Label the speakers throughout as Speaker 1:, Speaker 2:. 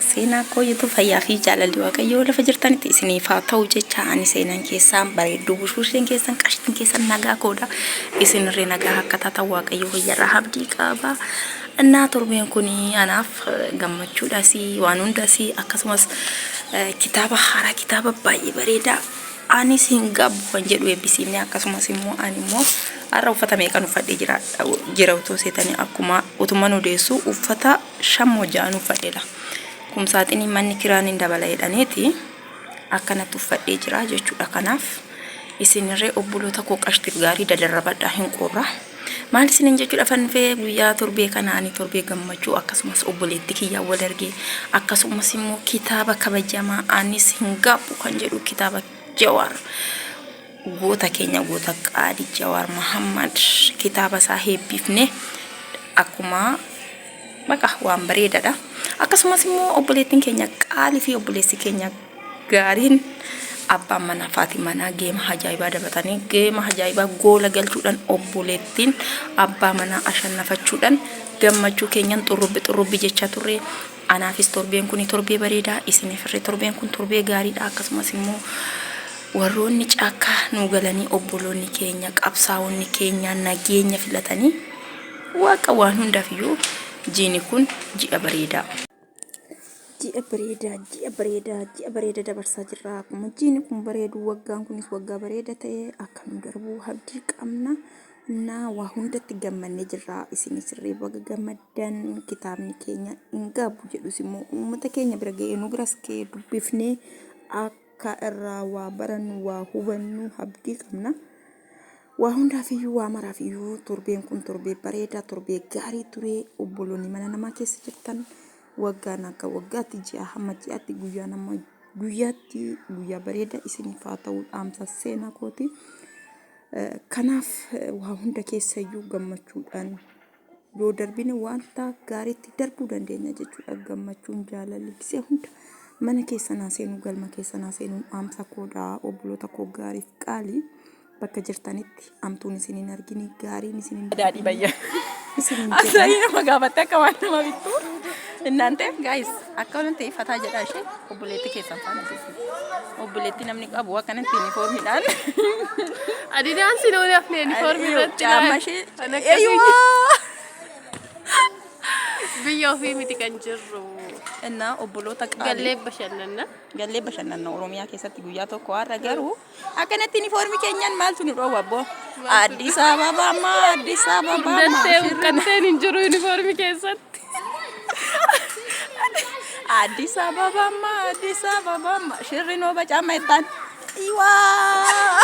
Speaker 1: Seenaa koo YouTube fayyaa fi jaalalli waaqayyoo lafa jirtanitti isiniif haa ta'u jecha ani seenaan keessaan bareedduu bushuusheen keessan qashtiin keessan nagaa koodha isinirree nagaa akka taatan waaqayyo fayyarraa habdii qaba. Innaa torbeen kun anaaf gammachuudhaas waan hundaas akkasumas kitaaba haaraa kitaaba baay'ee bareedaa anis hin gaabbu kan jedhu eebbisiifne akkasumas immoo ani immoo har'a uffata meeqan uffadhee jira jira utuu seetanii akkuma utuman odeessu uffata shammo ja'an uffadheedha kumsaaxinii manni kiraan hin dabala jedhaneeti akkanatti uffadhee jira jechuudha kanaaf isinirree obboloota koo qashtiif gaarii dadarrabadhaa hin qorra maal isinin jechuudha fannifee guyyaa torbee kanaanii torbee gammachuu akkasumas obboleetti kiyyaa wal argee akkasumas immoo kitaaba kabajamaa anis hin gaabbu kan jedhu kitaaba jawaar Goota keenya goota qaali Jawaar Mahammad kitaaba isaa heebbiifne akkuma baqa waan bareedadha. Akkasumas immoo obboleettiin keenya qaalii fi obboleessi keenya gaariin abbaan manaa fi manaa geema ajaa'ibaa dabatanii geema ajaa'ibaa goola galchuudhaan obboleettiin abbaa manaa ashannafachuudhaan gammachuu keenyan xurrubbi xurrubbi jechaa turre Anaafis torbeen kuni torbee bareedaa, isiniifirre torbeen kun torbee gaariidha. Akkasumas immoo warroonni caakkaa nuu galanii obboloonni keenya, qabsaa'onni keenya nageenya filatanii waaqa waan hundaaf iyyuu jiini kun ji'a bareedaa. Ji'a bareedaa, ji'a bareedaa, ji'a bareeda dabarsaa jirra. Akkuma jiini kun bareedu waggaan kunis waggaa bareeda ta'e akka nu darbu abdii qabna. Na waa hundatti gammannee jirra isinis illee baga gammaddan kitaabni keenya hin gaabu jedhus immoo uummata keenya bira ga'ee nu biras ga'ee dubbifnee akka irraa waa barannu waa hubannu abdii qabna. Waa hundaaf iyyuu waa maraaf iyyuu torbeen kun torbee bareedaa torbee gaarii ture obboloonni mana namaa keessa jirtan waggaan akka waggaatti ji'a hamma ji'aatti guyyaan amma guyyaatti guyyaa bareedaa isiniif haa ta'u dhaamsa seenaa kooti. Kanaaf waa hunda keessayyuu gammachuudhaan yoo darbine wanta gaariitti darbuu dandeenya jechuudha. Gammachuun jaalalli gisee hunda mana keessan haa seenuu galma keessan haa seenuun dhaamsa koodha obboloota koo gaariif qaalii bakka jirtanitti amtuun isin hin argine gaariin isin hin daadhii darbine bayya isin hin jedha. asaayii nama gaafatte akka waan nama bittu innaan ta'eef gaayis akka waan ta'eef fataa jedhaa ishee obboleetti keessan faana jira. Obboleettii namni qabu akkanatti yuunifoormiidhaan. Adidaan si nuun hafne yuunifoormii irratti Caamma ishee. Kan akkasii. Eeyyumaa! Biyya ofii miti kan jirru. Innaa obboloota qaalii. Gallee bashannanna. Gallee bashannanna Oromiyaa keessatti guyyaa tokko har'a garuu Akkanatti uniformi keenyan maaltu nu dhoowwa abboo? Addis Ababa amma Addis Ababa amma. Dandeewu shirri na- qabteen hin jiru uniformi keessatti. Addis Ababa amma Addis Ababa amma shirri noo bacaama jettaan. Iwaa.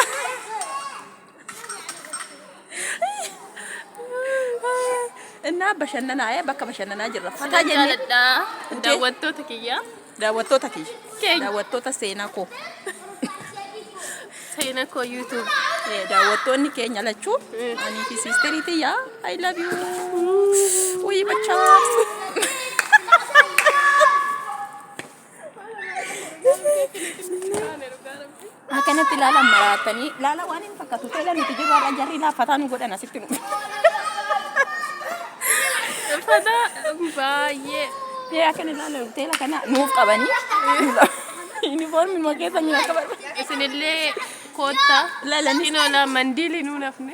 Speaker 1: Innaa bashannanaa ee bakka bashannanaa jirra. Fataa Kanan jennee. jaaladha daawwattoota kiyya. Daawwattoota kiyya. Keenya. Daawwattoota seenaa koo. Seenaa koo YouTube. Eh, Daawwattoonni keenya lachuu. Anii fi siisterii tiyya. I love you. Wayii bachaa. Akkanatti ilaalan maraattanii ilaalaa waan hin fakkaatu teela nuti jiru har'a jarri laaffataa nu godhan asitti nu. Uffata baay'ee. Tee akkan ilaalu teela kana nuuf qabanii. Yuunifoormii moo keessa miidhagina barbaadu. Isinillee koottaa. Lalanis. Xinoola mandiilii nuun hafne.